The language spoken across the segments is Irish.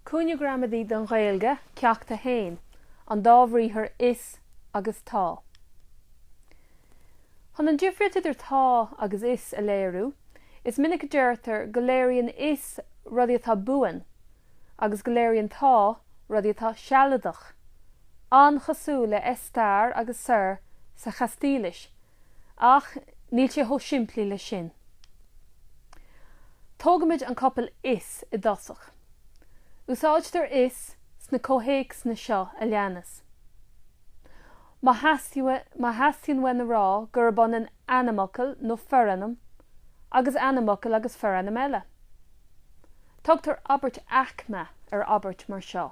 Cúinne Gramadaí don Ghaeilge, Ceacht 1, An Dá Bhriathar 'is' agus 'tá'. Chun an difríocht idir 'tá' agus 'is' a léiriú, is minic a deirtear go léiríonn 'is' rudaí atá buan agus go léiríonn 'tá' rudaí atá sealadach, an-chosúil le 'estar' agus 'ser' sa Chaistílis, Ach níl sé chomh simplí leis sin. Tógaimid an copail is i dtosach. Úsáidtear is sna comhthéacsanna seo a leanas. Má theastaíonn uainn a rá gurb ionann ainmfhocal nó forainm agus ainmfhocal agus forainm eile. Tugtar abairt aicme ar abairt mar seo,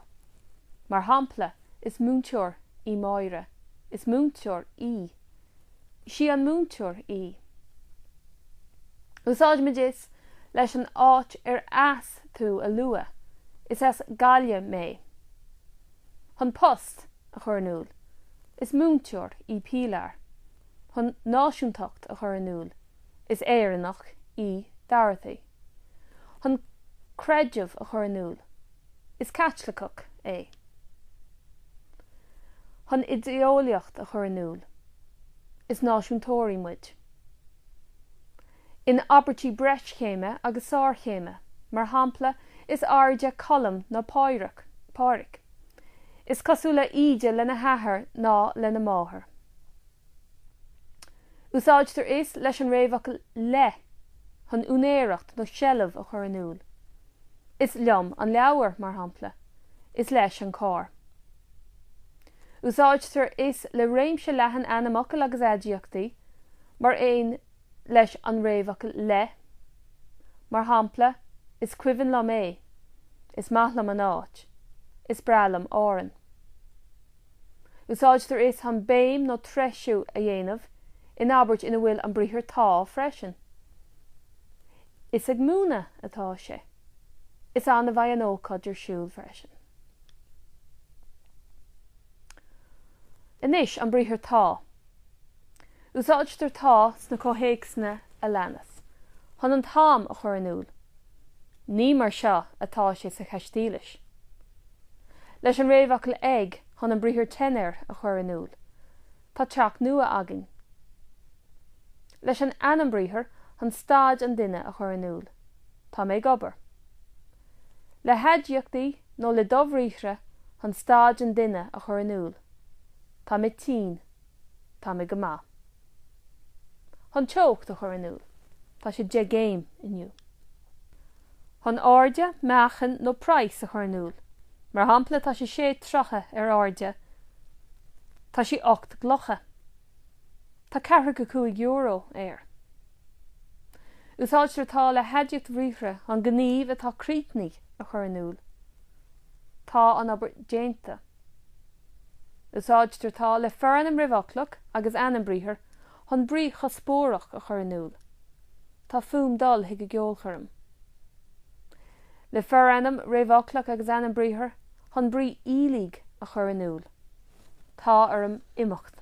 mar shampla, Is múinteoir í Máire. Is múinteoir í. Is í an múinteoir í. Úsáidimid is leis an áit ar as tú a lua, is as Gaillimh mé. Chun post a chur in iúl, is múinteoir í Pilar. Chun náisiúntacht a chur in iúl, Is Éireannach í Dorothy. Chun creideamh a chur in iúl. Is Caitliceach é. Chun idéeolaíocht a chur in iúl. Is náisiúntóirí muid. In abairtí breischéime agus sárchéime, mar shampla, is airde Colm ná Pádraic. Is cosúla Íde lena hathair ná lena máthair. Úsáidtear is leis an réamhfhocal le chun úinéireacht nó seilbh a chur in iúl, Is liom an leabhar, mar shampla, is leis an carr. Úsáidtear is le réimse leathan ainmfhocal agus aidiachtaí, mar aon leis an réamhfhocal le, mar shampla, is cuimhin liom é, is maith liom an áit, is breá liom Árainn. Úsáidtear is chun béim nó treisiú a dhéanamh in abairt ina bhfuil an briathar tá freisin. Is ag múineadh atá sé. Is ann a bheidh an ócáid ar siúl freisin. Anois, an briathar tá. Úsáidtear tá sna comhthéacsanna a leanas chun an t-am a chur in iúl. Ní mar seo atá sé sa Chaistílis. Leis an réamhfhocal ag chun an briathar tener a chur in iúl, Tá teach nua againn. Leis an ainm briathartha chun staid an duine a chur in iúl, Tá mé ag obair. Le haidiachtaí nó le dobhriathra chun staid an duine a chur in iúl. Tá mé tinn. Tá mé go maith. Chun teocht a chur in iúl, Tá sé deich gcéim inniu. Chun airde, meáchan nó praghas a chur in iúl, mar shampla Tá sé sé troithe ar airde. Tá sí ocht gclocha. Tá ceathracha a cúig euro air. Úsáidtear tá le haidiacht bhriathartha chun gníomh atá críochnaithe a chur in iúl. Tá an obair déanta. Úsáidtear tá le forainm réamhfhoclach agus ainm briathair chun brí chuspóireach a chur in iúl, Tá fúm dul chuig an gceolchoirm. le forainm réamhfhoclach agus ainm briathair chun brí iallaigh a chur in iúl, Tá orm imeacht.